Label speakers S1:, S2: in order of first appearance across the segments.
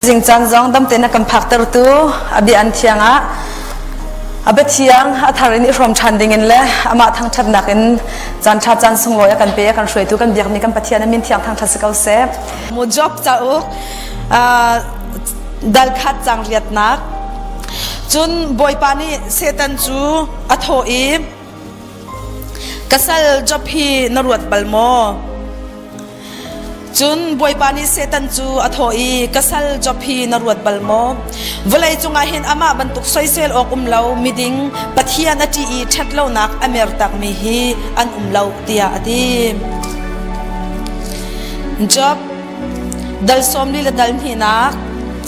S1: Zingcaan zong dam tein a kan phaktertu a bia an thiang ah a biathiang a thar in i hrawm ṭhan dingin le amah thangṭhatnak in caan ṭha caan sunglawi a kan pe a kan hruaitu kan biakmi kan Pathian a min thiang thangṭhat si ko seh. Mu job cauk dalkhat cang riatnak cun Bawipa nih Satan cu a thawh i ka sal job hi na ruat bal maw? Cun Bawipa nih Satan cu a thawh i, Ka sal Job hi na ruat bal maw? Vawlei cungah hin amah bantuk soisel awk um lo miding Pathian a ṭih i ṭhat lonak a mer takmi hi an um lo, tiah a ti. Job, dal sawm li le dal hnihnak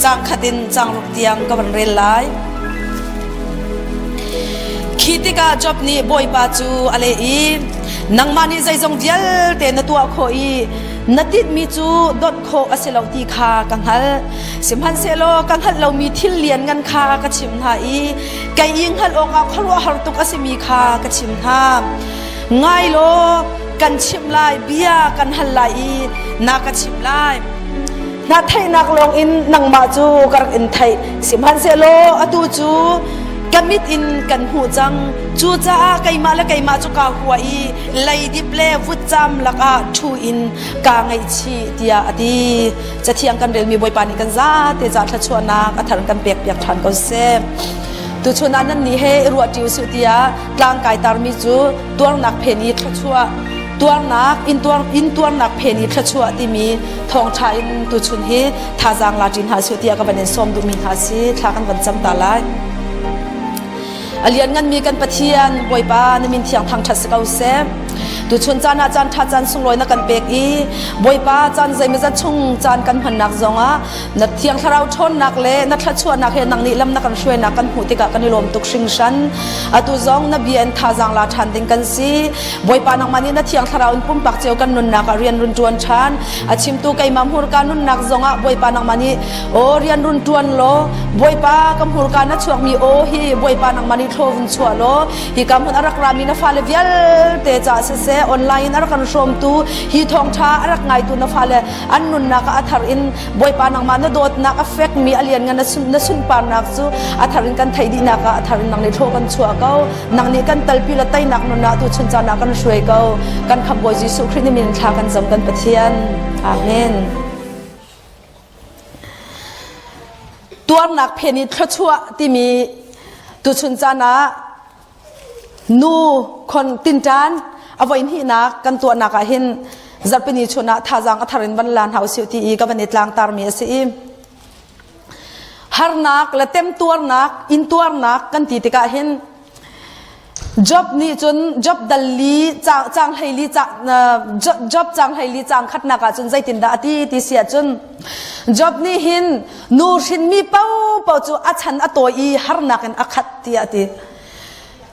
S1: caang khat in caangruk tiang ka van rel lai. Khi tikah Job nih Bawipa cu a leh i, nangmah nih zeizong vialte na tuah khawh i na tinhmi cu dawt khawh a si lo ti kha ka hngalh sihmanhsehlaw ka hngalh lomi thil lianngan kha ka chimh hna i kei i hngalh awkah khuaruahhar tuk a simi kha ka chim hna ngai law kan chimh lai bia kan hal lai i na ka chimh lai hna theihnak lawngin nangmah cu ka rak in theih sihmanhsehlaw atu cu ka mit in kan hmuh cang cucaah keimah le keimah cu kaa hua i leidip le vutcam lakah ṭhu in kaa ngaihchih tiah a ti cathiang kan relmi bawipa nih kan zate ca thluachuahnak a thar kan pek piak ṭhan ko seh tuchun ah nan nih he i ruah ṭi usih tiah tlang kai tarmi cu tuarnak phen i thluachuah tuarnak intuar intuarnak phen i thluachuah timi thawngṭha in tuchun hi thazaang la ṭin hna sih tiah ka van in sawm duhmi hna si thla kan van cam ta lai a liannganmi kan pathian bawipa na min thiang thangṭhat si ko seh tuchun caan ah caan ṭha caan sunglawi na kan pek i bawipa caan zeimazat chung caan kan hmannak zongah na thiang thlarau ṭhawnnak le na thluachuahnak he nang nih lam na kan hruainak kan hmuh tikah kan i lawm tuk hringhran atu zong na bia in thazaang la ṭhan ding kan si bawipa nangmah nih na thiang thlarau in pumpak ceo kan nunnak ah rian run ṭuan ṭhan a chimtu keimah hmurka nunnak zongah Bawipa nangmah nih aw rian run ṭuan law Bawipa ka hmurka na chuakmi aw hi Bawipa nangmah nih thlo vun chuah law hi ka hmun a rak rami na fale vialte caah siseh online in a rak kan hrawmtu hi thawngṭha a rak ngaitu na fale an nunnak ah a thar in Bawipa nangmah na dawtnak a fekmi a lianngan na sunparnak cu a thar in kan theih dihnak ah a thar in nang nih thlo kan chuah ko nang nih kan talpi la teinak nun ah tu chun caan ah kan hruai ko kan khap bawi Jesuh Khrist nih min thla kan zam kan Pathian amen tuarnak phen i thluachuah timi tu chun caan ah nu khon tintan avoin hi nak kan tuahnak ah hin zarpini chun ah thazang athar in van la hna usih ti i ka van i tlang tar mi asi i harnak le temtuarnak intuarnak kan ti tikah hin Job nih cun Job dal li cang hlei li Job cang hlei li cang khatnak ah cun zeitindah a ti ti si ahcun Job nih hin nu hrinmi popo cu a chan a tawi i harnak in a khat tiah a ti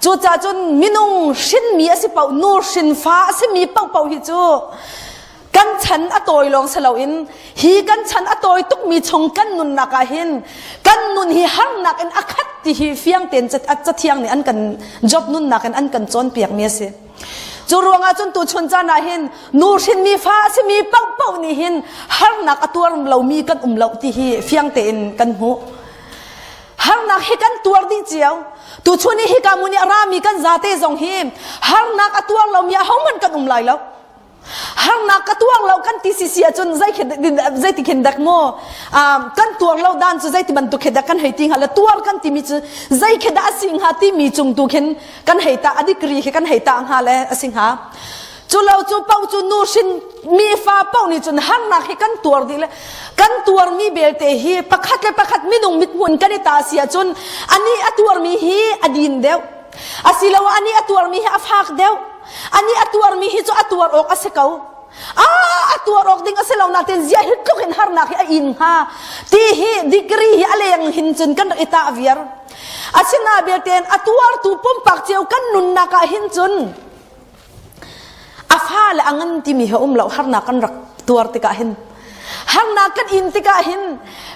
S1: cucah cun minung hrinmi a si paoh nu hrinfa a simi paohpaoh hi cu kan chan a tawi lawng si loin hi kan chan a tawi tukmi chung kan nunnak ah hin kan nun hi harnak in a khat ti hi fiang ten cathiang nih an kan job nunnak in an kan cawnpiak mi a si cu ruangah cun tu chun caan ah hin nu hrin mi fa a simi pangpau nih hin harnak a tuar lomi kan um lo ti hi fiang tein kan hmuh harnak hi kan tuar dih cio tu chun hi ka muni arami kan zate zong hi harnak a tuar lomi a homan kan um lai lo harnak ka tuang lo kan ti si si ahcun zei zeiti khin dak maw kan tuang lo dan cu zeiti bantuk khe dak kan hei ti hnga la tuar kan timi cu zei khe dah si hnga timi cung tu khin kan hei ta adigri khi kan hei ta hnga le asi hnga cu lo cu pau cu nu sin mi fa pau ni cun harnak hi kan tuar di le kan tuar mi belte hi pakhat le pakhat minung mit mun kan i ta si ahcun ani a tuar mi hi a din deuh asilo ani a tuar mi hi a fak deuh Ani a tuarmi hi cu a tuar awk a si ko. A a tuar awk ding a si lo nain zia hi tluk in harnak hi a in hnga. Ti hi degree hi a leng hin cun kan rak i tah viar. Asina belte a tuartu pumpak cio kan nunnak ah hin cun a fa le a ngan timi hi a um lo harnak kan rak tuar tikah hin harnak kan in tikah hin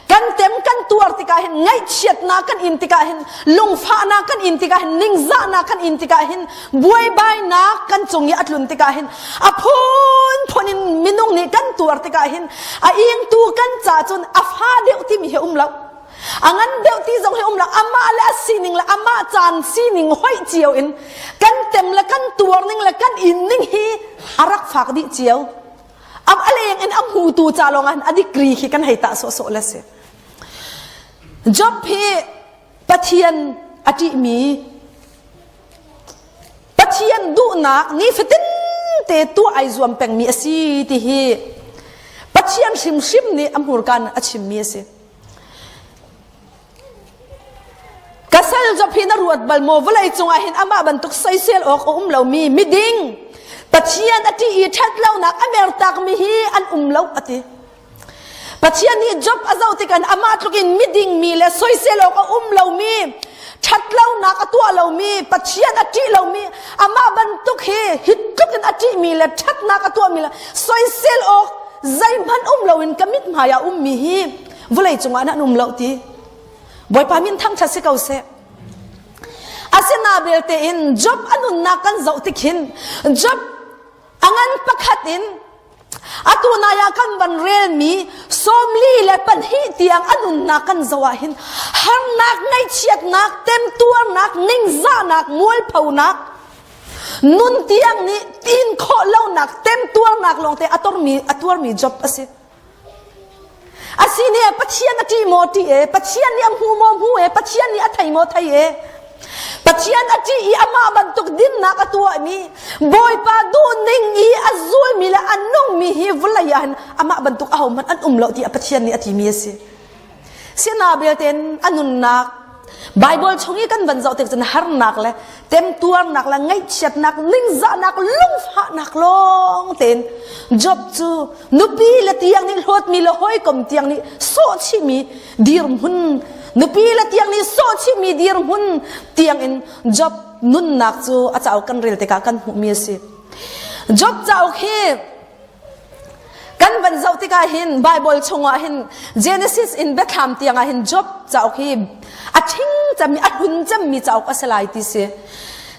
S1: kan tem kan tuar tikah hin ngaihchiatnak kan in tikah hin lungfahnak kan in tikah hin ningzahnak kan in tikah hin buaibainak kan cung i a tlun tikah hin a phunphun in minung nih kan tuar tikah hin a ingtu kan ca cun a fa deuh timi hi um lo a ngan deuh ti zong hi um lo amah le a sining le amah caan sining hoih cio in kan tem le kan tuar ning le kan in ning hi a rak fak dih cio am aleng in am hu tu ca lawng an a degree khi kan hei ta so so le si job hi pathian a ti mi pathian duhnak ni fatin te tu ai zuam peng mi asi ti hi pathian hrimhrim nih a hmurkan a chim mi asi ka sal zopi na ruat bal maw vawlei cungah hin amah bantuk soisel awk a um lomi miding pathian a ṭih i ṭhat lonak a mertakmi hi an um lo a ti pathian nih job a zoh tikhan amah tlukin miding mi le soisel awk a um lomi ṭhat lonak a tuah lomi pathian a ṭih lomi amah bantuk hi hi tlukin a ṭihmi le ṭhatnak a tuahmi le soisel awk zeihmanh um loin ka mit hmaiah ummi hi vulei cungah nan um lo ti bawipa min thangthat si ko seh asina belte in job a nunnak kan zoh tikhin job a ngan pakhat in atu naya kan van relmi sawmli le panhi tiang a nunnak kan zo ah hin harnak ngaihchiatnak temtuarnak ningzahnak mualphonak nun tiang nih tin khawh lonak temtuarnak lawngte a tormi a tuarmi job a si Asine Pathian a ṭih maw ṭih e, Pathian nih a hmu maw hmu e, Pathian nih a thei maw thei e. Pathian a ṭih i amah bantuk dinnak a tuahmi Bawipa duhning i a zulmi le a nungmi hi vawlei ah hin amah bantuk ahohmanh an um lo tiah Pathian nih a timi a si. Siana belte a nunnak Bible chung i kan van zoh tik cun harnak le temtuarnak le ngaihchiatnak ningzahnak lungfahnak lawng tein Job cu nupi le tiang nih hlawtmi le hawikom tiang nih sawhchihmi dirhmun nupi le tiang nih sawhchihmi dirhmun tiangin Job nunnak cu a cauk kan rel tikah kan hmuhmi a si Job cauk hi kan van zoh tikah hin Bible chungah hin Genesis in biathlam tiangah hin Job cauk hi a ṭhing cemmi a hlun cemmi cauk a si lai ti si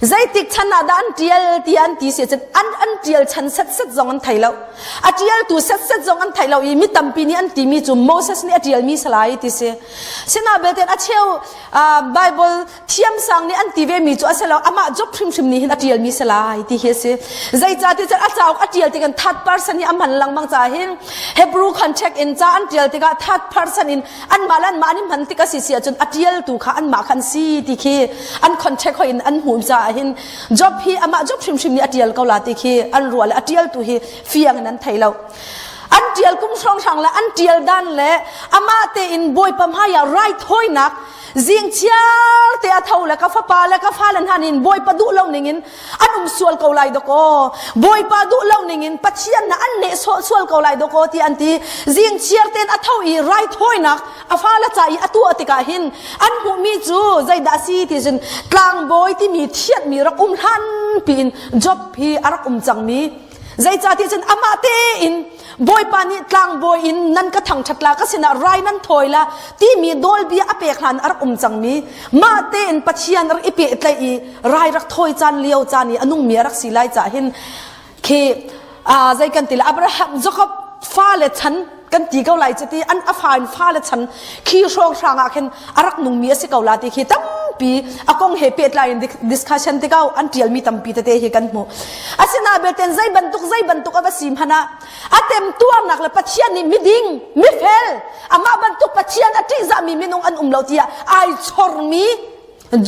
S1: zeitik chan ah dah an ṭial ti an ti si cun an an ṭial chan set set zong an thei lo a ṭialtu set set zong an thei lo i mi tampi nih an timi cu Moses nih a ṭialmi salai ti si sina belte a cheu Bible thiamsang nih an ti ve mi cu a si lo amah job hrimhrim nih hin a tial mi si lai ti hi a si zeicah ti cun a cauk a tial tikah third person hi a man lengmang ca hin hebrew contact in ca an tial tikah third person in an mah le an mah an i man tik a si si ahcun a tialtu kha an mah kha an si ti khi an contact hoi in an hmuh caah hin job hi amah job hrimhrim nih a tial ko la ti khi an ruah le a tialtu hi fiang in an thei lo an tial kum hrawnghrang le an tial dan le amah te in bawipa hmaiah right hoinak zing chiar te a tho le ka fapa le ka fale hna nin bawipa duh lo ning in an um sual ko lai dakaw bawipa duh lo ning in pathian na an leh sual ko lai dakaw ti an ti zing chiar ten a tho i rai thawinak a fale ca i atu atikah hin an hmuh mi cu zeidah si ti cun tlangbawi timi thiat mi rak um hlan piin job hi a rak um cang mi Zeicahtiah cun amah tein Bawipa nih tlangbawi in nan ka thangṭhatlak ka sinah rai nan thawi la timi dolbia a pek hlan a rak um cangmi mah tein Pathian rak i pehtlaih i rai rak thawi caan lio caan i a nungmi a rak si lai cah hin khi aa zei kan ti le Abraham Jacob fale chan kan ti ko lai chiti an a fa in fa le chan khi hrawng hrang ah khin arak nung mi asi ko la ti khi tampi a kong he pe tlai in discussion te kau an tial mi tampi te te hi kan hmu asina beten zai bantuk zai bantuk ava sim hana atem tuarnak le pathian ni miding mifel ama bantuk pathian ati za mi minung an um lo tia ai chor mi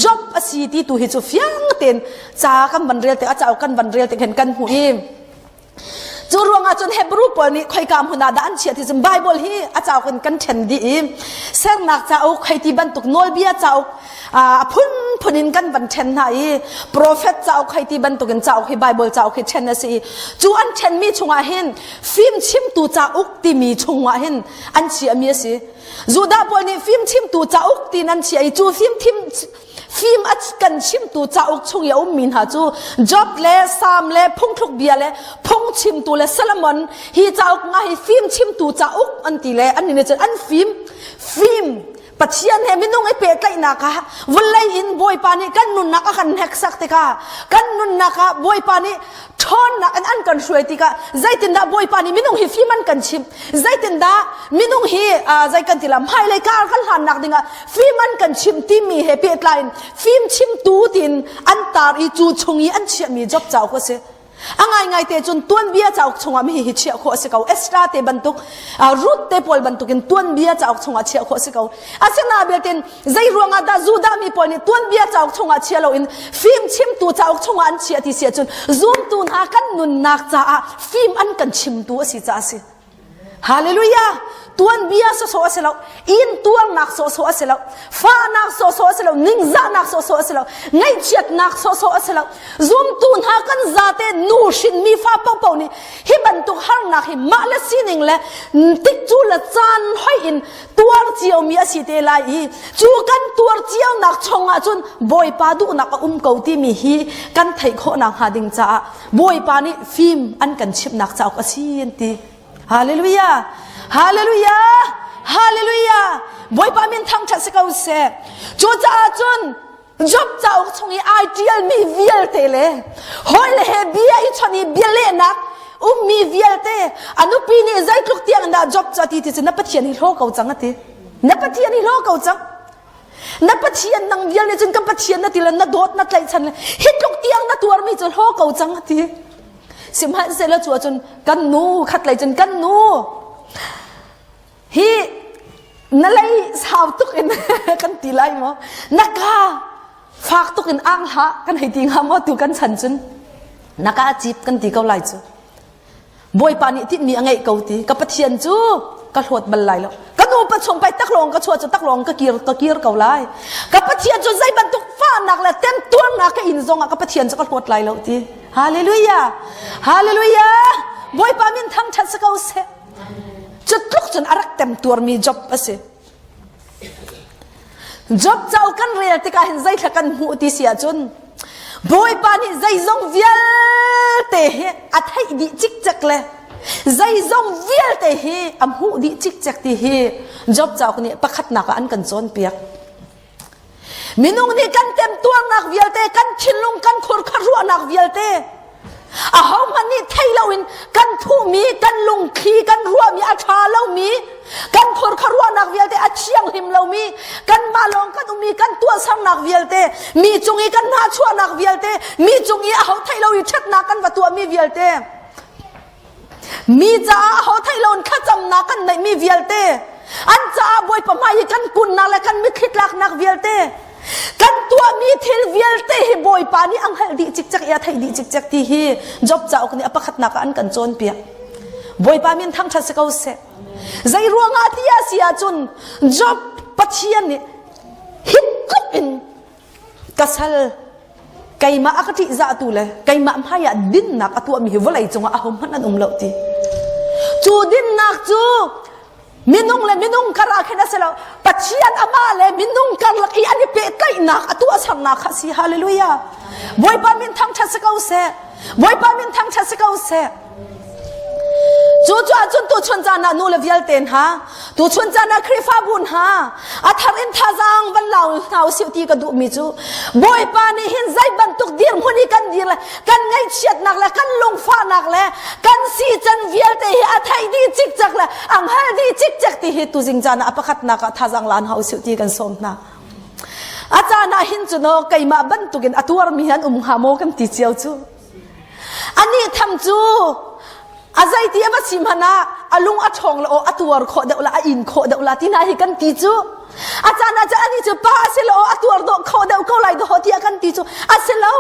S1: job asi ti tu hi chu fiang ten cha kan ban rel te a cha kan ban rel te khen kan hu im cu ruangah cun hebrew pawl nih khoika hmun ah dah an chiah ti cun bible hi a cauk in kan ṭhen dih i sernak cauk khoiti bantuk nawlbia cauk a phunphun in kan van ṭhen hna i profet cauk khoiti bantuk in cauk hi bible cauk hi ṭhen a si i cu an ṭhenmi chungah hin fim chimtu cauk timi chungah hin an chiahmi a si judah pawl nih fim chimtu cauk tiin an chiah i cu fim thim fim a kan chimtu cauk chung i a ummi hna cu Job le Sam le phungthluk bia le phungchimtu le Solomon hi cauk nga hi fim chimtu cauk an ti le an in cun an fim fim Pathian he minung i pehtlaihnak ah vawlei in Bawipa nih kan nunnak a kan hneksak tikah kan nunnak ah Bawipa nih ṭhawnnak in an kan hruai tikah zeitindah bawipa nih minung hi fim an kan chimh zeitindah minung hi zei kan ti la hmailei kar kan hlannak dingah fim an kan chimh timi he pehtlai in fim chimtu tiin an tar i cu chung i an chiahmi job cauk a si a ngaingai te cun tuanbia cauk chungah mi hi chiah khawh a si ko extra te bantuk ruth te pawl bantukin tuanbia cauk chungah chiah khawh a si ko asina belte Zei ruangah dah Judah mi pawl nih tuanbia cauk chungah chia loin fim chimtu cauk chungah an chiah ti si ahcun zumtu hna kan nunnak caah fim an kan chimtu a si caah a si. Hallelujah! Tuanbia sawsawh a si lo, intuarnak sawsawh a si lo, fahnak sawsawh a si lo, ningzahnak sawsawh a si lo, ngaihchiatnak sawsawh a si lo. Zumtu hna kan zate nu hrinmi fa paohpaoh nih hi bantuk harnak hi mah le sining le tik cu le caan hoih in tuar ciomi a si te lai i cu kan tuar cionak chung ahcun bawipa duhnak a um ko timi hi kan theih khawhnak hnga ding caah bawipa nih fim an kan chimnak cauk a si an ti hallelujah hallelujah hallelujah bawipa min thangṭhat si ko seh cu caah cun Job cauk chung i ai ṭialmi vialte le hawile he bia hi chawnh i bialehnak ummi vialte a nupi nih zeitluk tiang in dah Job cu a ti ti cu na Pathian hi hlaw ko cang a ti. Na Pathian hi hlaw ko cang. Na Pathian nang vial nih cun kan Pathian na ti le na dawt na tlaihchan le hi tluk tiang na tuarmi cu hlaw ko cang a ti. Sihmanhsehlaw cu ahcun kan nu khatlei cun kan nu hi na lei sau tuk in kan ti lai maw na ka fak tuk in ang hla kan hei ti hnga maw tu kan chan cun na ka cip kan ti ko lai cu bawipa nih tin mi a ngeih ko ti ka pathian cu ka hlawt bal lai lo ka nu pa chung pai tak lawng ka chua chu tak lawng ka kir ka kir ko lai ka pathian cu zei bantuk fahnak le tem tuarnak ka in zong ah ka pathian cu ka hlawt lai lo ti hallelujah hallelujah bawipa min thang ṭhat sa ko seh Cutluk cun a rak temtuarmi job a si. Job cauk kan rel tikah hin zeithla kan hmuh ti si ahcun Bawipa nih zeizong vialte hi a theih dih cikcek le zeizong vialte hi a hmuh dih cikcek ti hi Job cauk nih pakhatnak ah an kan cawnpiak. Minung nih kan temtuarnak vialte, kan thinlung kan khurkha ruahnak vialte, ahohmanh nih thei loin kan thuhmi, kan lungthli, kan ruahmi, a ṭha lomi, kan khurkha ruahnak vialte, a thianghlim lomi, kanmah lawng kan um i kan tuahsernak vialte, mi cung i kan hnachuahnak vialte, mi cung i aho thei lo i ṭhatnak kan va tuahmi vialte, Mi caah ho thei loin thlacamnak kan neihmi vialte, an caah Bawipa hmai i kan kunnak le kan mitthli tlaknak vialte, kan tuahmi thil vialte hi Bawipa nih a hngalh dih cikcek i a theih dih cikcek ti hi Job cauk nih a pakhatnak ah an kan cawnpiak. Bawipa min thangṭhat si ko seh. Zei ruangah ti a si ahcun Job Pathian nih hipkup in ka sal keimah a ka ṭihzahtu le keimah hmaiah dinnak a tuahmi hi vawlei cungah ahohmanh an um lo ti cu dinnak cu minung le minung karah khin a si lo pathian amah le minung karlak i an i pehtlaihnak a tuahsernak kha si hallelujah bawipa min thangṭhat si ko seh bawipa min thangṭhat si ko seh Cu ahcun tuchun caan ah nule vialte hna, tuchun caan ah Khrihfabu hna, a thar in thazaang van lau hna u sih ti ka duhmi cu Bawipa nih hin zei bantuk dirhmun i kan dir le kan ngaihchiatnak le kan lungfahnak le kan sican vialte hi a theih dih cikcek le a hngal dih cikcek ti hi tuzing caan ah a pakhatnak ah thazaang la hna u sih ti kan sawm hna. A caan ah hin cu no keimah bantukin a tuarmi an um hnga maw kan ti cio cu. Anih tham cu a zeiti a va si hmanh ah a lung a ṭhawng la aw a tuar khawh deuh la a in khawh deuh la ti hna hi kan ti cu a caan ah cun anih cu pa a si lo a tuar dawh khawh deuh ko lai dawh tiah kan ti cu a si lo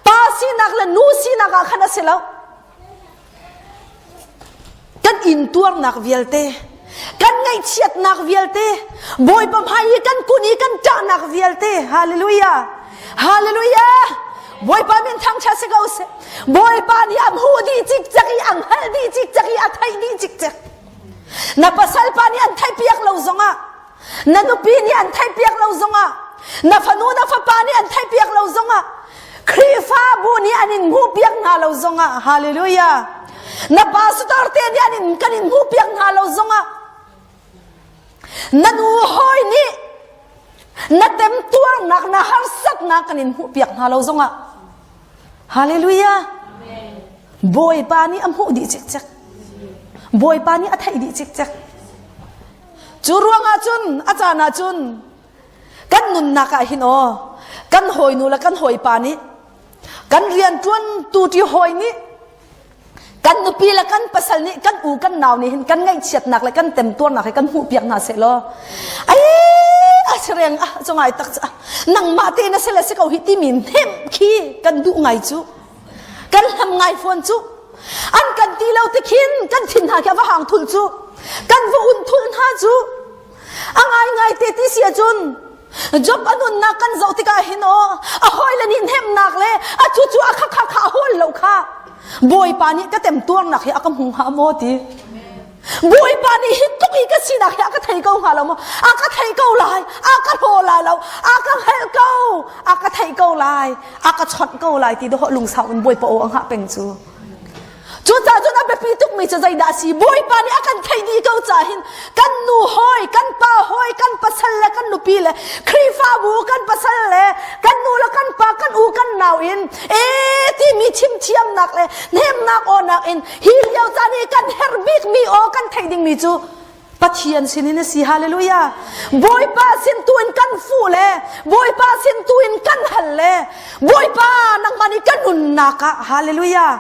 S1: pa sinak le nu sinak ah khan a si lo kan intuarnak vialte kan ngaihchiatnak vialte bawipa hmai i kan kun i kan ṭahnak vialte hallelujah hallelujah bawipa min thangṭha si ko seh bawipa nih an hu di cikcek i an hal di cikcek i a theih di cikcek na pasal pa nih an theihpiak lo zongah na nupi nih an theihpiak lo zongah na fanu na fapa nih an theihpiak lo zongah Khrihfabu nih an in hmuhpiak hna lo zongah hallelujah na pastor te nih an in kan in hmuhpiak hna lo zongah na nu hawi nih na temtuarnak na harsatnak kan in hmuhpiak hna lo zongah hallelujah bawipa nih a hmuh dih cikcek bawipa nih a theih dih cikcek Cu ruangah cun a caan ah cun kan nunnak ah hin aw kan hawinu le kan hawipa nih kan rianṭuantu ṭi hawi nih kan nupi le kan pasal nih kan u kan nau nih hin kan ngaihchiatnak le kan temtuarnak hi kan hmuhpiak hna seh law ai a si reng ah cu ngai tak cu ah nangmah te na si le si ko hi timi nem khi kan duh ngai cu kan hlam ngai fawn cu an kan ti lo tikhin kan thin hna khi a va hang thul cu kan va un thul hna cu a ngai ngai te ti si cun job a nunnak kan zoh tikah hin o a hawile nih hnemnak le a thu cu a kha kha kha a hawl lo kha bawipa nih ka temtuarnak hi a ka hmu hnga maw ti Bawipa nih hi tuk i ka sinak hi a ka thei ko hnga lo maw? A ka thei ko lai, a ka hlaw lai lo, a ka hngalh ko, a ka thei ko lai, a ka chawnh ko lai ti dawh lungsau in Bawipa aw a hngah peng cu. Cucaah cun a biapi tukmi cu zeidah a si? Bawipa nih a kan theih dih ko cahin kan nu hawi, kan pa hawi, kan pasal le kan nupi le Khrihfabu kan pasal le kan nu le kan pa kan u kan nau in e timi chimthiamnak le hnemnak awnak in Hi lio caan i kan herh bikmi aw kan theih dingmi cu Pathian sinin a si hallelujah Bawipa sin tu in kan fuh le Bawipa sin tu in kan hal le Bawipa nangman i kan nunnak ah hallelujah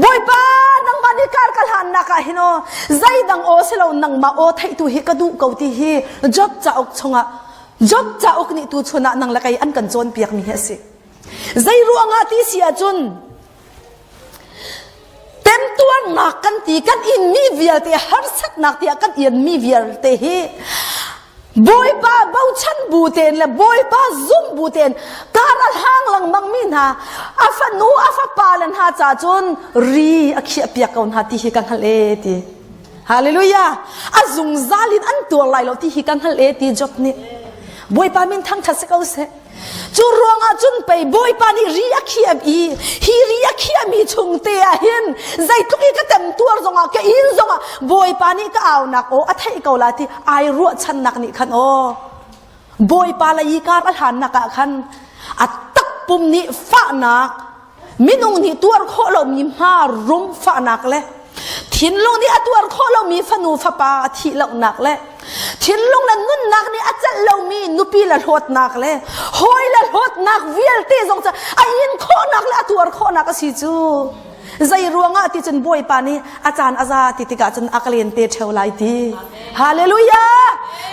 S1: Bawipa nangman i kar ka hlannak ah hin o zeidang aw si lo nangmah aw theihtu hi ka duh ko ti hi Job cauk chungah Job cauk nih tu chun ah nang lakei an kan cawnpiakmi hi a si zei ruangah ti si ahcun Temtuarnak kan ti kan inmi vialte harsatnak tiah kan inmi vialte hi Bawipa bochan bu tein le Bawipa zum bu tein karal hang lengmangmi hna a fanu a fapa le hna ca cun ri a khiah piak ko hna ti hi ka hngalh e ti Hallelujah a zungzal in an tuar lai lo ti hi ka hngalh e ti Job nih Bawipa min thangthat si ko seh cu ruangah cun pei bawipa nih ri a khiam i hi ri a khiahmi chung te ah hin zeitluk i ka temtuar zongah ka il zongah bawipa nih ka aunak aw a theih ko la ti ai ruahchannak nih khan aw bawipa lei i kar a hlannak ah khan a takpum nih fahnak minung nih tuar khawh lomi hma rum fahnak le thinlung nih a tuar khawh lomi fanu fapa a thih lonak le thinlung le nunnak nih a celh lomi nupi le hlawtnak le hawi le hlawtnak vialte zong cu a in khawhnak le a tuar khawhnak a si cu zei ruangah ti cun bawipa nih a caan a za ti tikah cun a klen te theo lai ti hallelujah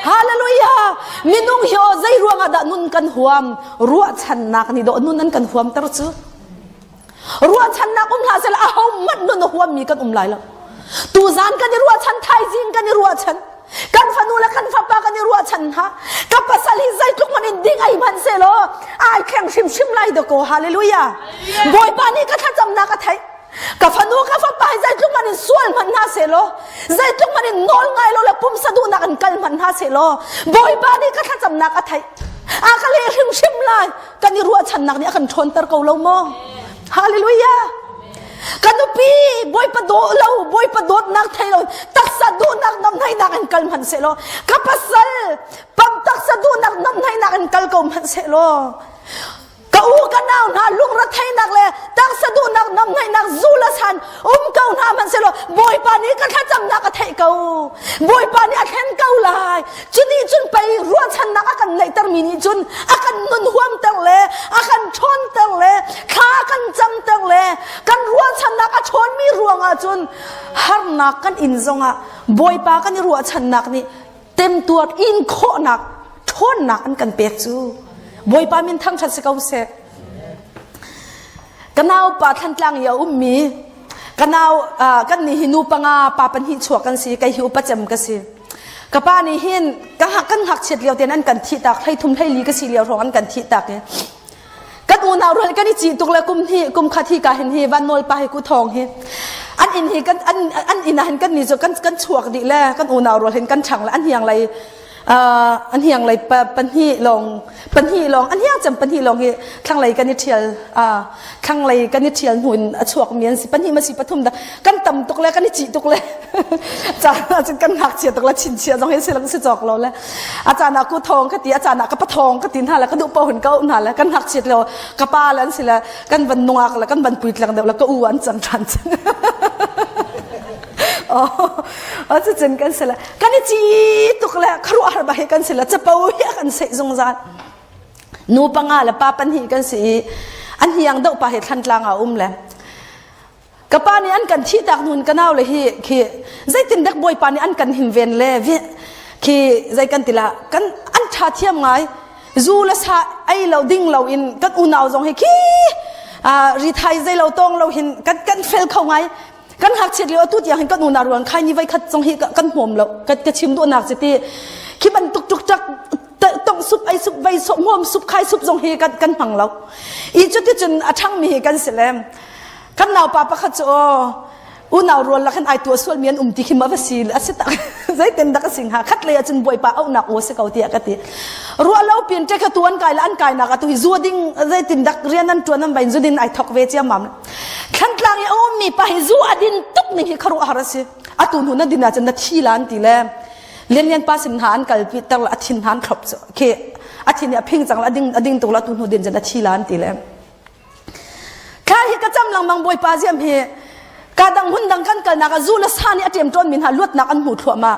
S1: hallelujah minung hi o zei ruangah dah nun kan huam ruahchannak nih dawh nun an kan huamter cu ruahchannak um hlah sela aho hmanh nun a huammi kan um lai lo tuzan kan i ruahchan thaizing kan i ruahchan kan fanu le kan fapa kan i ruahchan hna ka pasal hi zeitluk man in ding ai hman se law ai kheng hrim hrim lai da ko hallelujah bawipa nih ka thlacamnak a theih ka fanu ka fapa zeitluk man in sual hmanh hna se law zeitluk man in nawl ngai lo le pumsa duhnak in kal hmanh hna se law bawipa nih ka thlacamnak a theih a ka le hrimhrim lai kan i ruahchannak nih a kan ṭhawnter ko lo maw hallelujah ka nupi bawipa daw lo bawipa dawtnak thei lo taksa duhnak namnainak in kal hmanh se law ka pasal pam taksa duhnak namnainak in kal ko hmanh se law ka u ka nau hna lungretheihnak le tangsa duhnak nam ngaihnak zu le san um ko hna hmanhsehlaw bawipa nih ka thlacamnak a theih ko bawipa nih a thlen ko lai cuti cun pei ruahchannak a kan neihtermi nih cun a kan nun huamter le a kan ṭhawnter le thla kan camter le kan ruahchannak a ṭhawnmi ruangah cun harnak kan in zongah bawipa kan i ruahchannak nih temtuar in khawhnak ṭhawnnak an kan pek cu Bawipa min thangṭhat si ko seh ka naupa Thlantlang i a ummi ka nau uh, kan nih hi nu panga pa pahnih chuak kan si kai hi upa cem ka si ka pa nih hin ka hak kan hak chiat lio ten an kan thi tak hlei thum hlei li ka si lio hrawng an kan thi tak i kan unau rual kan i cih tuk le kum hi kum khat hi ka hin hi van nawl pa hi ku thong hi an in hi kan an an inn ah hin kan ni chu kan kan chuak di le kan unau rual hin kan chang le an hiang lei an hiang lei pahnih lawng pahnih lawng an hiang cem pahnih lawng hi thlanglei kan i thial thlanglei kan i ṭhial hnu in a chuakmi an si pahnih masi pathum dah kan tam tuk le kan i cih tuk le caan ahcun kan ngakchia tuk le chinchia zong hi silang si cawk lo le a caan ah ku thawng ka ti a caan ah ka pa thawng ka ti hna le ka duh pohun ka uh hna le kan ngakchiat lo ka pa le an si le kan van nungak le kan van puitlang deuh le ka u an cang ṭhan cang o cu cun kan si le kan i ci tuk le kharuahar ba hi kan si le capo hi a kan seih zungzal Nu panga le pa pahnih kan si i an hiang doh pa hi thlantlang ah um le ka pa nih an kan thi tak nun ka nau le hi khi zeitin dek bawipa nih an kan him ven le vi khi zei kan tila kan an tha thiam ngai zu le sa ei lo ding lo in kan unau zong hi khi ri thai zei lo tong lo hin kan kan fel kho ngai kan hngakchiat lio atu tiang hin kan unau ruang khai ni veikhat zong hi kan hmawm lo ka ka chim duhnak chiti khi bantuk tuk chak tong sup ai sup vei sup hmawm sup khai sup zong hi kan kan hmang lo i cu ti cun a thang mi hi kan si lem kan nau pa pakhat cu unau rual la khan ai tua sual mi an um ti khi ma va si a si tak zai ten dak sing ha khat le acun boi pa au nak o se ko ti ka ti ru lo pin te kha tuan kai la an kai na ka tu zu ding zai tin dak rian an tuan an bain zu din ai thok ve chiam mam Thlantlang i a ummi pa hi zu a din tuk ning hi khuaruahhar a si. Atu hnu na din ahcun na thi la an ti le lianlian pa sin hna an kalpi ter a thin hna an thlop khi a thin a phing cang a ding a ding tuk la tu hnu din cun a thi la an ti le kha hi ka cham langmang bawipa ziam hi ka dang hun dang kan kalnak a zu la sa nih a ṭem ṭawn min ha luatnak an hmu thluahmah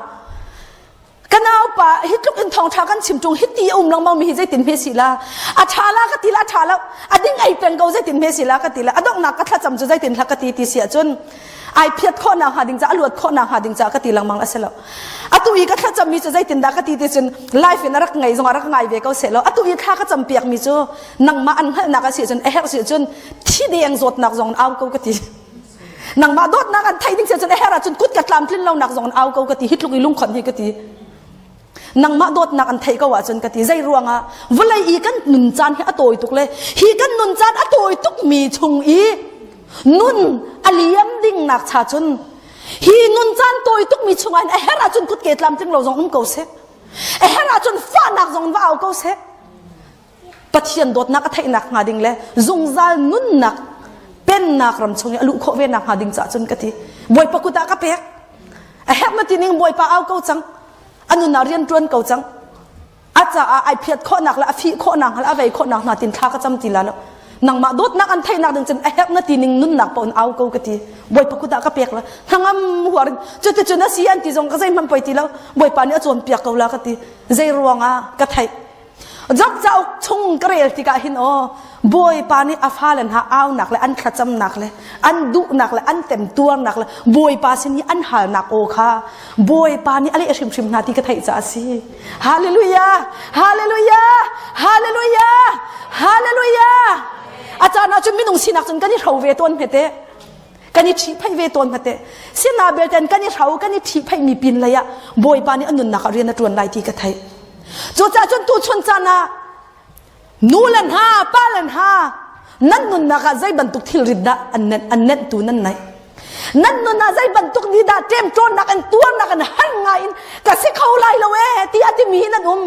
S1: ka naupa hi tluk in thongtha kan chim chung hiti a um lengmang mi hi zeitin hme si la a tha la ka ti la tha lo a ding ai peng ko zeitin hme si la ka ti la a donghnak ka thlacam cu zeitin hlak ka ti ti si ahcun ai phiat kho na ha ding ca a luat kho na ha ding ca ka ti lengmang a si lo atu i ka thlacam mi cu zeitin dah ka ti ti cun life in a rak ngai zong a rak ngai ve ko se lo atu i thla ka cam piak mi cu nangmah an hngalhnak a si cun a herh si cun thi deng zawtnak zong au ko ka ti nangmah dawtnak an thei ding sia cun her ahcun kut ka tlamtlin lo nak zong an au ko ka ti hitluk i lungkhon hi ka ti nangmah dawtnak an theih ko ahcun ka ti zei ruangah vawlei i kan nun caan hi a tawi tuk le hi kan nun caan a tawi tuk mi chung i nun a liam ding nak cha cun hi nun caan tawi tuk mi chungah a her ahcun kut ke tlam tling lo zong um ko seh a her ahcun fahnak zong va au ko seh Pathian dawtnak a theihnak hnga ding le zungzal nunnak pennak ram chung i a luh khawh ve nak hnga ding cah cun ka ti bawipa kut ah ka pek a herh mati ning bawipa au ko cang a nun ah rian tuan ko cang a caah ai phiat khawhnak le a fih khawhnak le a vei khawhnak hna tin thla ka cam ti la lo nangmah dawtnak an theihnak ding cun a herh mati ning nunnak pa un au ko ka ti bawipa kut ah ka pek la hnangam huar cuticun a si an ti zong ka zei man poi ti lo bawipa nih a cawn piak ko la ka ti zei ruang ah ka theih Job cauk chung ka rel tikah hin aw Bawipa nih a fale hna aunak le an thlacamnak le an duhnak le an temtuarnak le Bawipa sin i an halnak aw kha Bawipa nih a leh hrimhrim hna ti ka theih caah a si. Hallelujah! Hallelujah! Hallelujah! Hallelujah! A caan ahcun minung sinak cun kan i hro ve tawn hme teh. kan i ṭhihphaih ve tawn hna teh sina belten kan i hro kan i ṭhihphaih mi pin lei ah bawipa nih an nunnak ah rian a ṭuan lai ti ka theih cucaah cun tuchun caan ah nu le hna pa le hna nan nunnak ah zei bantuk thilrit dah an nenh an nehntu nan naih nan nun ah zei bantuk ni dah ṭemṭawnnak in tuarnak in har ngai in ka si kho lai lo ee ti a timi hi nan um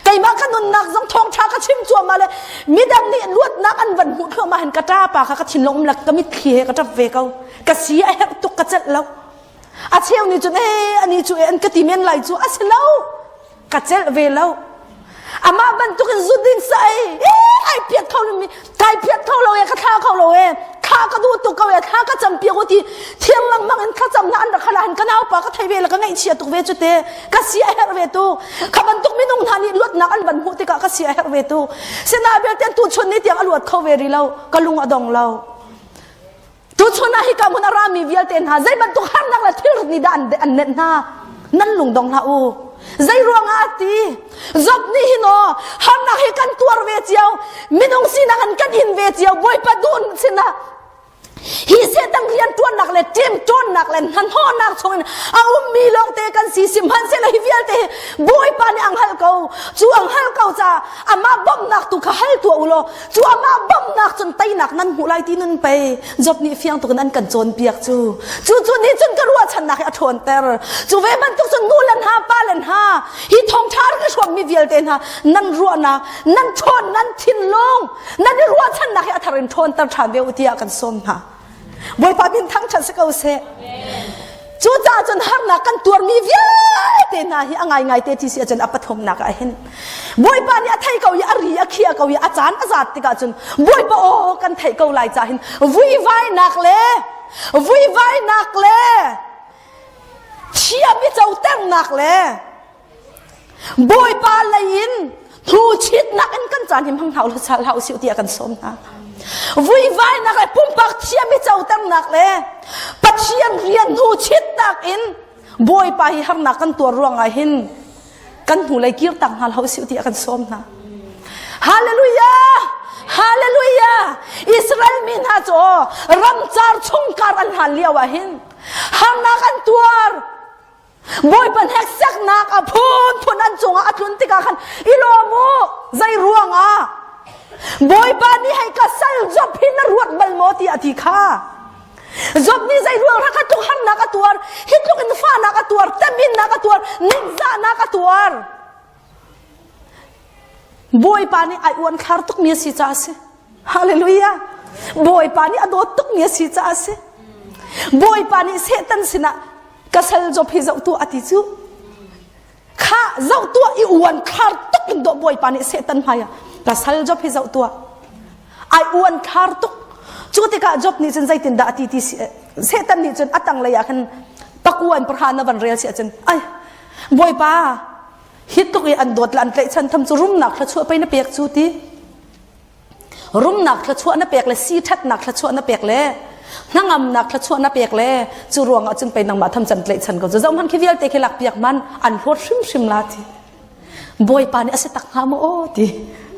S1: keimah ka nunnak zong thawngtha ka chim cuahmah le midang nih luatnak an van hmuh thluahmah hin ka ta pa kha ka thinlung um lak ka mitthli he ka tap ve ko ka si a herh tuk ka celh lo a cheu ni cun eh ani cu eh an ka ti men lai cu a si lo ka celh ve lo amah bantukin zut ding sai eh ai piat kho mi kai phiat kho lo e ka thla kho lo e kha ka du tu ko e thla ka cham pia ti thiam lang mang in kha cham na an rakha han ka nau pa ka thei ve la ka ngei chia tuk ve chu te ka sia her ve tu kha ban tuk minung hna nih luat nak an ban hu tika ka sia her ve tu sena bel ten tu chun ni tiang a luat kho ve ri lo ka lung a dong lo Tuchun ah hika hmun a rami vialte hna zei bantuk harnak le thilrit nih dah an, an nenh hna? Nan lungdong hlah u. Zei ruangah ti? Job nih hin o harnak hi kan tuar ve cio. Minung sinak an kan hin ve cio. Bawipa dun sinah hi Satan rian tuannak le tim tuannak le hnahnawhnak chungin a ummi lawngte kan si si hmanhsehlaw hi vialte hi Bawipa nih ang hal ko cu ang hal ko ca amah bawmhnak tu kha hal tuah u law cu amah bamnak cun teinak nan hmuh lai ti nun pei Job nih fiang tuk in an kan cawnpiak cu cu cu nih cun ka ruahchannak hi a ṭhawnter cu ve bantuk cun nu le hna pa le hna hi thawngṭha rin a hruangmi vialte hna nan ruahnak nan ṭhawn nan thinlung nan i ruahchannak hi a thar in ṭhawnter ṭhan ve u tiah kan sawm hna Bawipa min thangṭhat si ko seh. Cucaah cun harnak kan tuarmi vialte hna hi a ngaingai te ti si ahcun a pathumnak ah hin Bawipa nih a thei ko i a ri a khia ko i a caan a zat tikah cun Bawipa aw kan theih ko lai ca hin vuivainak le vuivainak le thiam i coternak le Bawipa lei in thu chitnak in kan caan him hang hlah uhlaw sal hlah usih tiah kan sawm hna. Vuivainak le pumpak thiam i coternak le Pathian rian hnu chitnak in Bawipa hi harnak kan tuar ruangah hin kan hnulei kir tak hna hlah usih tiah kan sawm hna. Hallelujah! Hallelujah! Israel mi hna cu ramcar chungkar an hlan lio ah hin harnak an tuar Bawipa hneksaknak a phunphun an cungah a tlun tikah khan i lawm u zei ruangah Bawipa nih hei ka sal Job hi na ruat bal maw ti a ti kha Job nih zei ruangah kha tluk harnak a tuar hi tluk in fahnak a tuar teminnak a tuar ningzahnak a tuar Bawipa nih a uanthlar tukmi a si caah a si. Hallelujah! Bawipa nih a dawt tukmi a si caah a si. Bawipa nih Satan sinah ka sal zop hi zoh tuah a ti cu. Kha zoh tuah i uanthlar tuk in daw Bawipa nih Satan hmaiah ka sal zop hi zoh tuah. Ai uanthlar tuk. Cu tikah Job nih cun zeitindah a ti ti si, Satan nih cun a tanglei ah khan pakuan pahra na van rel si ahcun ai Bawipa hi tluk i an dawt la an tlaih chan tham cu rumnak thluachuah pei na pek cu ti rumnak thluachuah na pek le si thatnak thluachuah na pek le hnangamnak thluachuah na pek le cu ruang ah cun pei nangmah tham can tlaih chan ko cu zohman khi vialte khi lak piak man an hlawt hrim hrim la ti bawipa nih a si tak hnga maw aw ti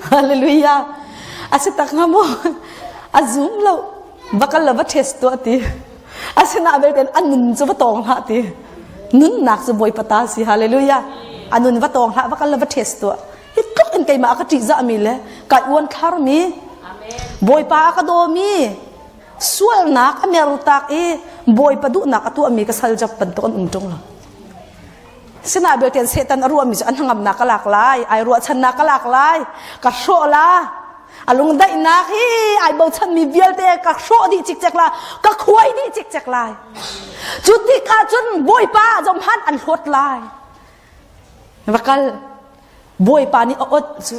S1: hallelujah a si tak hnga maw a zum lo va kal le va ṭhes tuah ti asinain belten a nun cu va tawng hlah ti nunnak cu bawipa ta si hallelujah a nun va tawng hlah va kal le va ṭhes tuah hi tluk in keimah a ka ṭihzahmi le ka uan tharmi bawipa a ka dawmi sualnak a mertak i bawipa duhnak a tuahmi ka sal jap bantuk an um ṭung lo Sinah belte Satan a ruahmi cu a hnangamnak ka lak lai, ai ruahchannak ka lak lai, ka hrawh la, a lungdaihnak hi ai bochanmi vialte ka hrawh dih cikcek la, ka khuai dih cikcek lai. Cu ti ka cun Bawipa zomhan an hlawt lai. Va kal, Bawipa nih a ot cu.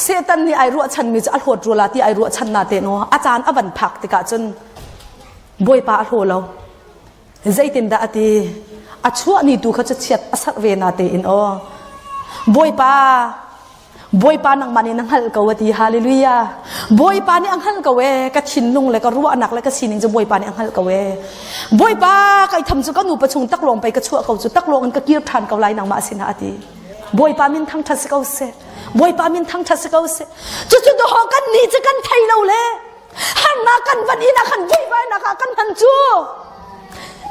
S1: Satan nih ai ruahchanmi cu a hlawt rula ti ai ruahchan na te no a caan a van phak tikah cun bawipa a hlaw lo zeitin dah a ti a chuahni tu kha cu chiat a sak ve na te in o bawipa bawipa nangmah nih na hngalh ko a ti hallelujah bawipa nih a hngalh ko e ka thinlung le ka ruahnak le ka sining cu bawipa nih a hngalh ko e bawipa kai tham cu ka nu pa chung taklawng pei ka chuah ko cu taklawng in ka kir than ko lai nangmah sinah a ti Bawipa min thangṭhat si ko seh. Bawipa min thangṭhat si ko seh. Cucu dawh kan nih cu kan thei lo le hannak kan van in a kan veivainak ah kan hman cu.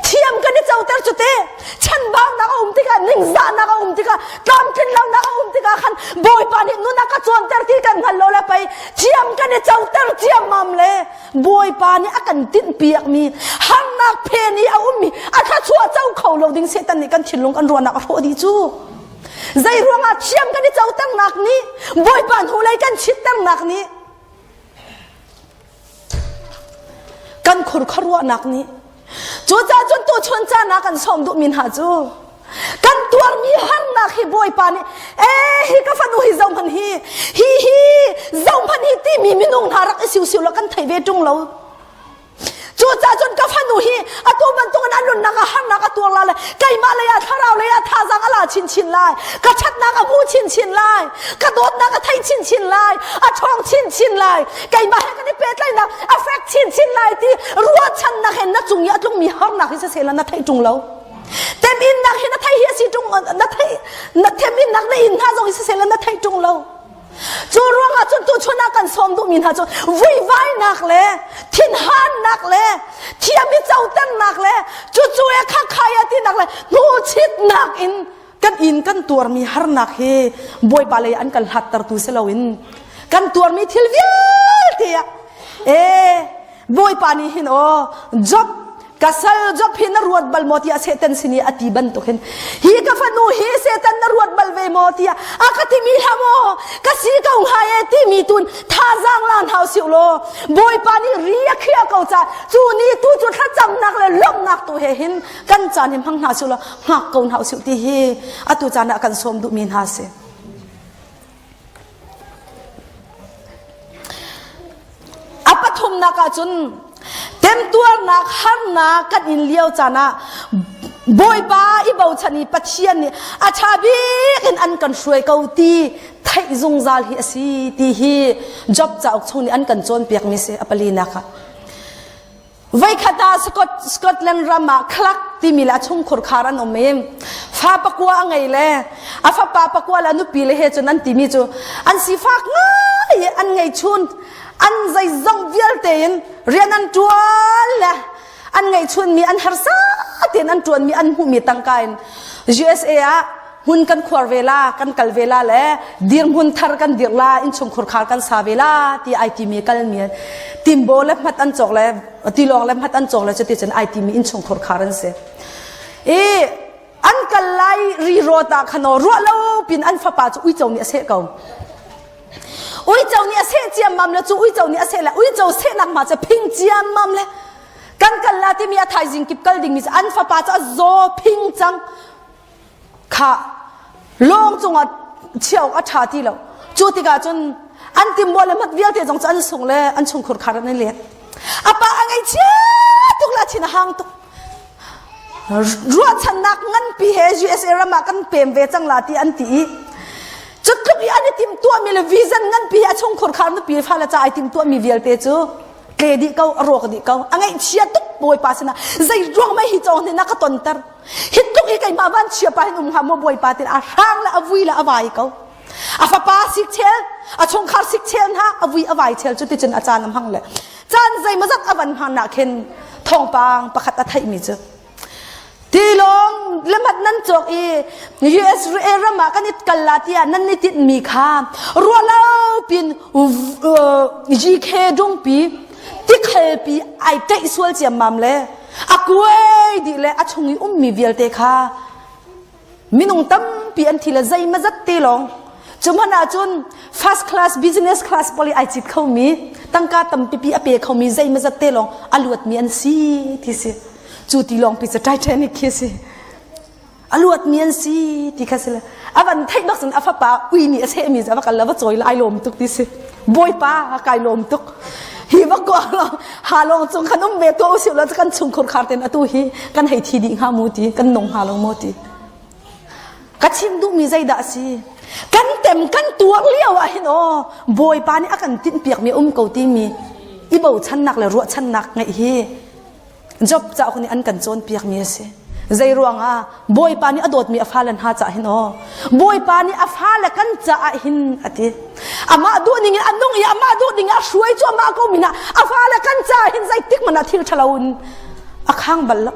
S1: Thiam kan i coter cu te chanbaunak a um tikah ningzahnak a um tikah tlamtlinlonak a um tikah khan Bawipa nih nun a ka cawnter ti kan hngal lo le pei thiam kan i coter ciammam le Bawipa nih a kan tinhpiakmi harnak phen i a ummi a thluachuah co kho lo ding Satan nih kan thinlung kan ruahnak a hrawh dih cu. Zei ruangah thiam kan i coternak nih Bawipa hnulei kan chitternak nih kan khurkharuahnak nih Cucahcun tuchun caan ah kan sawm duhmi hna cu kan tuarmi harnak hi Bawipa nih eh hi ka fanu hi zohman hi hi hi zohman hi timi minung hna rak i siusiu law kan thei ve ṭung lo cucahcun ka fanu hi atu bantukin a nunnak ah harnak a tuar la lai keimah lei ah thlarau lei ah thazang a la chinchin lai ka ṭhatnak a hmu chinchin lai ka dawtnak a thei chinchin lai a ṭhawng chinchin lai keimah he kan i pehtlaihnak a fek chinchin lai ti ruahchannak hen na cung i a tlungmi harnak hi sisela na thei ṭung lo teminnak hi na thei hi a si ṭung na thei na teminnak na in hna zong hi sisela na thei ṭung lo cu ruangah cun tu chun ah kan sawm duhmi hna cu vuivainak le thinhannak le thiam i coternak le cucu e khakkhai atinak le hnuchitnak in kan inn kan tuarmi harnak hi bawipa lei an kan hlattertu si loin kan tuarmi thil vialte ah ee bawipa nih hin o job ka sal job hin na ruat bal maw tiah satan sin i ati bantuk hin hi ka fanu hi satan na ruat bal ve maw tiah a ka timi hla maw ka si ko hnga e timi tun thazaang lan hau si lo bawipa nih ria khia ko ca cu ni tu cu thlacamnak le lawmhnak tu he hin kan caan hin hmang hna sih law hngak ko hna usih ti hi atu caan ah kan sawm duhmi hna si a pathumnak ah cun temtuarnak harnak kan in lio caan ah bawipa i bochan i pathian nih a ṭha bik in an kan hruai ko ti theih zungzal hi a si ti hi job cauk chung nih an kan cawnpiakmi si a palinak ah Voikhat ah Scotland ram ah khlak timi le a chungkhur khar an um i fa pakua a ngei le a fapa pakua le a nupi le he cun an timi cu an sifak ngai i an ngei chun an zeizong vialte in rian an tuan le an ngei chunmi an harsa tein an tuanmi an hmuhmi tangka in USA ah hmun kan khuar ve la kan kal ve la le dirhmun thar kan dir la inchungkhur khar kan sa ve la ti IT mi kal mi timbo le hmat an chok le tilong le hmat an chok le chati chen IT mi inchungkhur khar an se i an kal lai ri ro ta khano ru lo pin an fapa chu ui chau ni ase ko ui chau ni ase chiam mam le chu ui chau ni ase le ui chau se nak ma cha phing chiam mam le kan kal la ti mi a thaizing kip kal ding mi an fapa cha zo phing chang khah lawng cungah chia awk a ṭha ti lo. Cu tikah cun an timbuah le mat vialte zong cu an sung le an chungkhur khar an i let. A pa a ngaichia tuk le a thin a hang tuk. Ruahchannak nganpi he USA ram ah kan pem ve cang la ti an ti i cutluk i an i timtuahmi le vision nganpi he a chungkhur khar nupi fale ca ai timtuahmi vialte cu tle dih ko a rawk dih ko a ngaihchia tuk bawipa sinah zei ruang mei hi cawng nih na ka tonter hi tluk hi keimah van chia pa hin um hlah maw bawipa tin a hrang le a vui le a vai ko a fapa sik chel a chungkhar sik chel hna a vui a vai chel cu ticun a caan am hang le caan zei mazat a van hman nak khin thongpang pakhat a theih mi cu tilong lemat nan chok i US ram ah kan it kalla tia nan ni tit mi kha rualo pin GK dungpi tikhal pi ai tei sual ciam mam le a kuai dih le a chung i ummi vialte kha minung tampi an thi le zeima zat te lawng cu hmanh ahcun first class business class poli ai cit khomi tangka tampipi a pe khomi zeima zat te lawng a luatmi an si ti si cu ti lawng pi cu titanic khi a si a luatmi an si ti kha si le a van theih bak cun a fapa ui nih a sehmi cu a va kal a va cawi lai lawm tuk ti si bawipa kai lawm tuk hi va kua lo ha long chung khan um ve tu usiu lo kan chung khur khar ten atu hi kan hei thi di hnga mu ti kan nong ha lo mo ti ka chim duhmi zeidah a si kan tem kan tuar lio ah hin o bawipa nih a kan tin piak mi um ko ti mi i bochannak le ruahchannak ngeih hi Job cauk nih an kan cawnpiakmi a si. Zei ruangah? Bawipa nih a dawtmi a fale hna caah hin aw. Bawipa nih a fale kan caah hin a ti. Amah duh ning in a nung i amah duh ding a hruai cuahmah ko min ah a fale kan caah hin zeitik hmanh ah thil ṭhalo in a khang bal lo.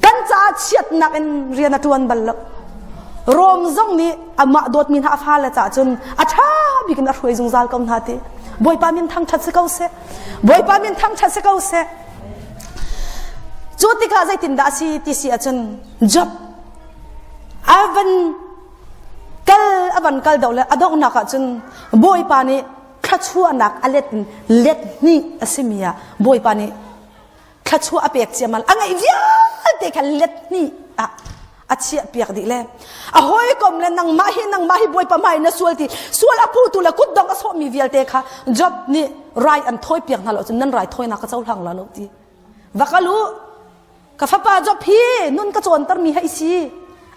S1: Kan caah chiatnak in rian a ṭuan bal lo. Rom zong nih amah dawtmi hna a fale caah cun a ṭha bik in a hruai zungzal ko hna ti. Bawipa min thangṭhat si ko seh. Bawipa min thangṭhat si ko seh. Cu tikah zeitindah a si ti si ahcun Job a van kal a van kal doh le a donghnak ahcun Bawipa nih thluachuahnak a let in let hnih a simi ah Bawipa nih thluachuah a pek ciaman a ngeih vialte kha let hnih ah a chiah piak dih le a hawikom le nangmah hi nangmah hi bawipa mai na sual ti sual a phu tu le kutdong a sawhmi vialte kha job nih rai an thawi piak hna lo cun nan rai thawinak ka cohlang la lo ti va kal u ka fapa job hi nun ka cawnter mi hei si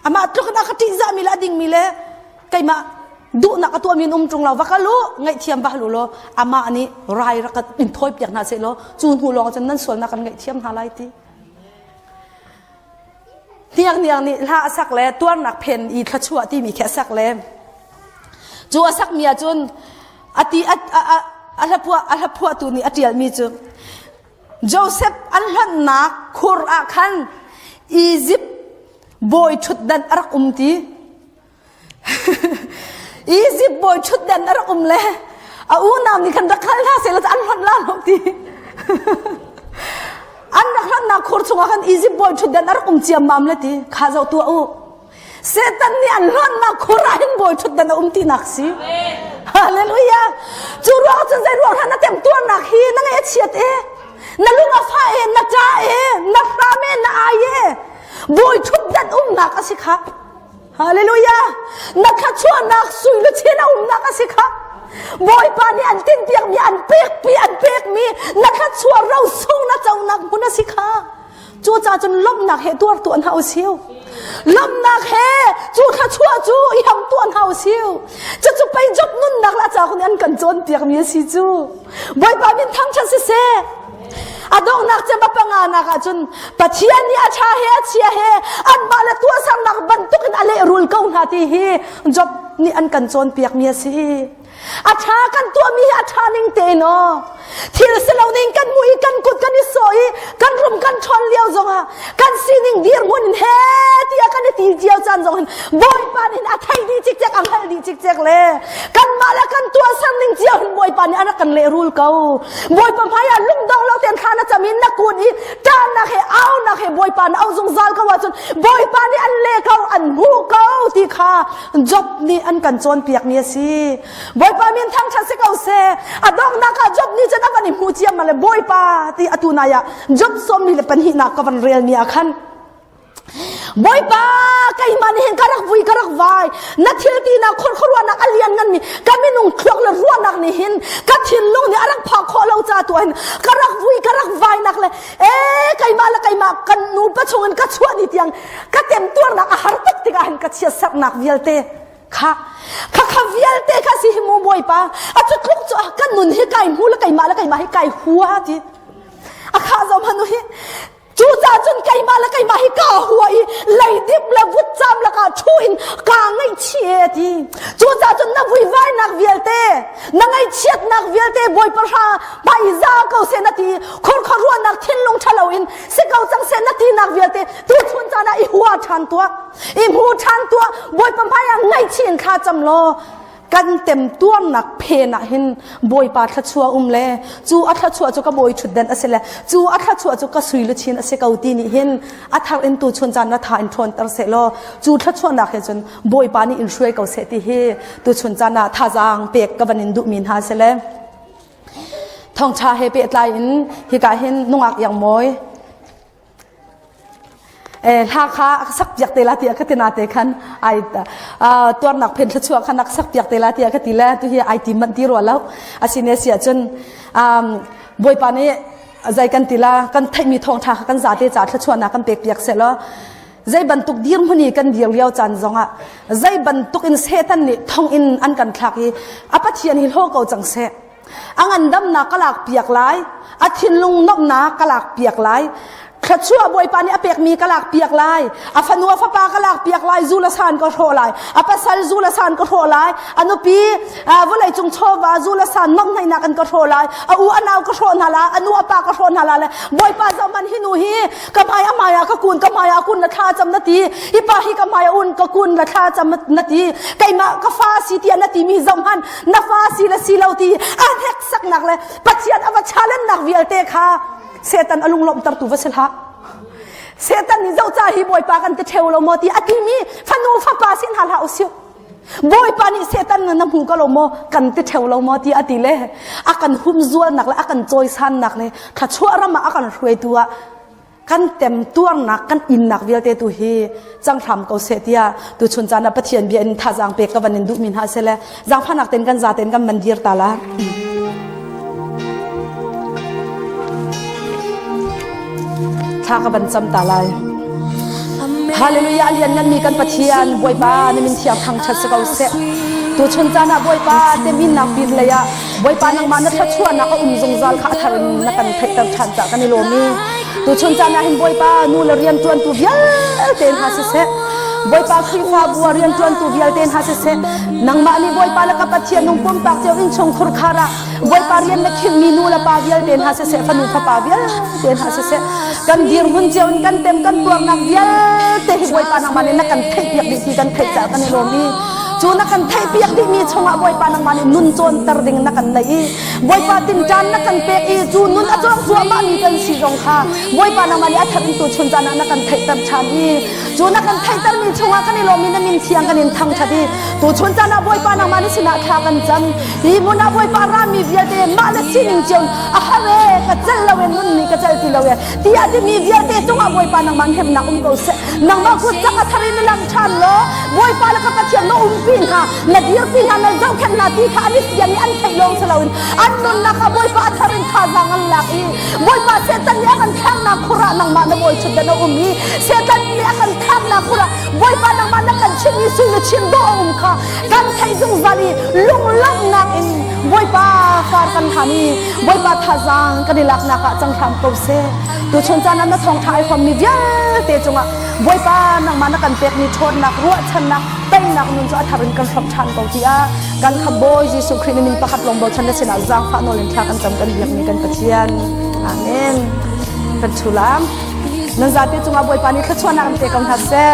S1: amah tluk na ka ṭihzah mi le a ding mi le keimah duhnak a tuah mi um ṭung lo va kal u ngaihthiam ba lu law amah nih rai rakat in thawi piak hna se law cu hnu lawng cun nan sualnak kan ngaihthiam hna lai ti hniakniak nih hla a sak le tuarnak phen i thluachuah timi khi a sak le cu a sakmi ahcun a ti a a hlapua a hlaphuahtu nih a ṭialmi cu Josef an hlannak khur ah khan Izipt bawi ṭhutdan a rak um ti Egypt bawi ṭhutdan a rak um le a unau nih khan rak hal hna seh an hlonh la lo ti an rak hlannak khur chungah khan Egypt bawi ṭhutdan a rak um ciammam le ti kha zoh tuah u Satan nih an hlonnak khur ah hin bawi ṭhutdan a um tinak si Hallelujah cu ruang cun zei ruang hran na temtuarnak hi na nge a chiat e na lung a fa e na ṭa e na hram e na ai e bawi ṭhutdan umnak a si kha Hallelujah! Na thluachuahnak sullu chin a umnak a si kha. Bawipa nih an tinpiakmi, an pekmi, an pekmi na thluachuah rosung na conak hmun a si kha. Cucaah cun lawmhnak he tuar tuan hna u siu. Lawmhnak he cu thluachuah cu i ham tuan hna u siu. Cucu pei Job nunnak la ca hun an kan cawnpiakmi a si cu. Bawipa min thangṭhat siseh. A donghnak cem a panganak ah cun Pathian nih a tha he a chia he anmah le tuahsernak bantuk in a lehrul ko hna ti hi Job nih an kan cawnpiakmi a si. A tha kan tuahmi hi a tha ning tein aw. Thil si lo ning kan hmuh i kan kut kan i sawh i kan rum kan ṭhawn lio zongah kan sining dirhmun he tiah kan i ti cio caan zong hin bawipa nin a thei dih cikcek a hngalh dih cikcek le kan mah le kan tuahsan ning cio hin bawipa nih an kan lehrul ko bawipa hmai ah lungdong lo ten thla na cam in na kut i taan nak he au nak he bawipa na au zungzal ko ahcun bawipa nih an le ko an hmu ko ti kha job nih an kan cawnpiak ni a si Bawipa min thangṭhat si ko seh a donghnak ah Job nih cun a van i hmu ciam le Bawipa ti atu nai ah Job sawmmi le pahnihnak ka van relmi ah khan Bawipa keimah nih hin ka rak vui ka rak vai na thil tinak khur khuaruahnak a lian nganmi ka minung thluak le ruahnak nih hin ka thinlung nih a rak phak khawh lo ca tu hin ka rak vui ka rak vainak le e keimah le keimah kan nu pa chungin ka chuah ni tiang ka temtuarnak a har tuk tikah hin ka chia saknak vialte kha kha kha vialte kha si hi mu bawipa a tutluk cu kan nun hi kai mu le keimah le keimah hi kai hua ti a kha zom hanu hi cu ca cun keimah le keimah hi ka hua i leidip le vutcam laka thu in ka ngei chi ti cu ca cun na vuivainak vialte na ngaihchiatnak vialte bawipa hra pai za ko se na ti khurkhar ruahnak thinlung thalo in si ko cang se na tinak vialte tu chun cana i hua than tua i hmu ṭhan tuah bawipa hmaiah ngaihchih in thla cam law kan temtuarnak phen ah hin bawipa thluachuah um le cu a thluachuah cu ka bawi ṭhutden a si le cu a thluachuah cu ka sui luchin a si ko ti nih hin a thar in tu chun caan na tha in ṭhawnter seh law cu thluachuahnak he cun bawipa nih in hruai ko seh ti hi tu chun caan ah thazaang pek ka van in duhmi hna si le thongṭha he pe tlai in hika hin nungak yang mawi eh, hla kha sak piak te la ti ka tina te khan ai tuarnak phen thluchua khan ak sak piak te la ti ka ti le tu hi ai ti man ti ro lo asine sia chun um boipa ni zai kan tila kan theimi thong tha kan za te cha thluchua na kan pek piak se lo zai bantuk dir muni kan dir liao chan zonga zai bantuk in setan ni thong in an kan thlak i apathian hi lo ko chang se a ngandamnak ka lakpiak lai a thinlung nuamhnak ka lakpiak lai thluachuah bawipa nih a pekmi ka lakpiak lai a fanu a fapa ka lakpiak lai zu la san ka hrawh lai a pasal zu la san ka hrawh lai a nupi vawlei cung chawva zu la san nuamhnainak an ka hrawh lai a u a nau ka hrawh hna la a nu a pa ka hrawh hna la le bawipa zohman hi nu hi ka hmai a hmai ah ka kun ka hmai ah kun la thla cam na ti i pa hi ka hmai a un ka kun la thla cam na ti keimah ka fa si tia na ti mi zohman na fa si le si lo ti a hneksaknak le pathian a va challenge-nak vialte kha setan a lunglawmhter tu va si hlah setan nih zohca hi bawipa kan ti theo lo maw ti a timi fanu fapa sin hal ha usih bawipa nih setan na hmu ka lo maw kan ti theo lo maw ti a ti le a kan humzualnak le a kan cawisannak le thla chuah ram ah a kan hruaitu ah kan temtuarnak kan innak vialte tu hi cang hram ko seh tiah tu chun caan ah Pathian bia in thazang pek ka van in duh min ha sele zangphanak ten kan za ten kan man dir ta la tha ka ban cham ta lai hallelujah lian nan mi kan pathian boipa na min thiam thang chat se ko seh tu chun caan ah boipa te min nak pir lei ah Bawipa nangmah na thluachuahnak a um zungzal kha a thar in na kan theihter ṭhan ca kan i lawm i tuchun caan ah hin Bawipa nu le rianṭuantu vialte hna siseh Bawipa Khrihfabu ah rianṭuantu vialte hna siseh nangmah nih Bawipa le ka Pathian nung pumpak cio innchungkhur khar ah Bawipa rian na khinh nu le pa vialte hna siseh fanu fapa vialte hna siseh kan dirhmun cio in kan tem kan tuarnak vialte hi Bawipa nangmah nih na kan theihpiak dih ti kan theih ca kan i lawm i cu na kan theihpiak dihmi chungah Bawipa nangmah nih nun cawnter ding na kan neih i Bawipa tinṭan na kan pek i cu nun a cuang cuahmahmi kan si zong kha Bawipa nangmah nih a thar in tu chun caan ah na kan theihter ṭhan i cu na kan theihtermi chungah kan i lawm in na min thiang kan in thangṭhat i tu chun caan ah Bawipa nangmah nih sinah thla kan cam hi hmun ah Bawipa rami vialte mah le sining cion a har e ka celh lo e nun nih ka celh ti lo e tiah timi vialte cungah Bawipa nangmah hnemnak um ko seh nangmah kutsak a thar in na lang ṭhan law Bawipa le ka Pathian na umpi hna na dirpi hna na zohkhenh hna ti kha an i fian i an theih lawng si loin an nunnak kha Bawipa a thar in thazaang an lak i Bawipa Satan nih a kan thlaknak khurah nangmah na bawichutdan a um i Satan nih a kan thlaknak khurah Bawipa nangmah na kan chimh i sul le chim dawh a um kha kan theih zungzal i lunglawmhnak in Bawipa kar kan hlan i Bawipa thazaang kan i laknak ah cang hram ko seh. Tuchun caan ah na thawngtha ai fommi vialte cungah Bawipa nangmah na kan pekmi ṭhawnnak, ruahchannak, teinak nun cu a thar in kan hrawmh ṭhan ko tiah kan khamh Bawi Jesuh Khrih nih mi pakhat lawng bochan na sinah zaangfah nawl in thla kan cam kan biakmi kan Pathian. Amen. Kan thulam. Nan zapi cungah Bawipa nih thluachuahnak in pe ko hna seh.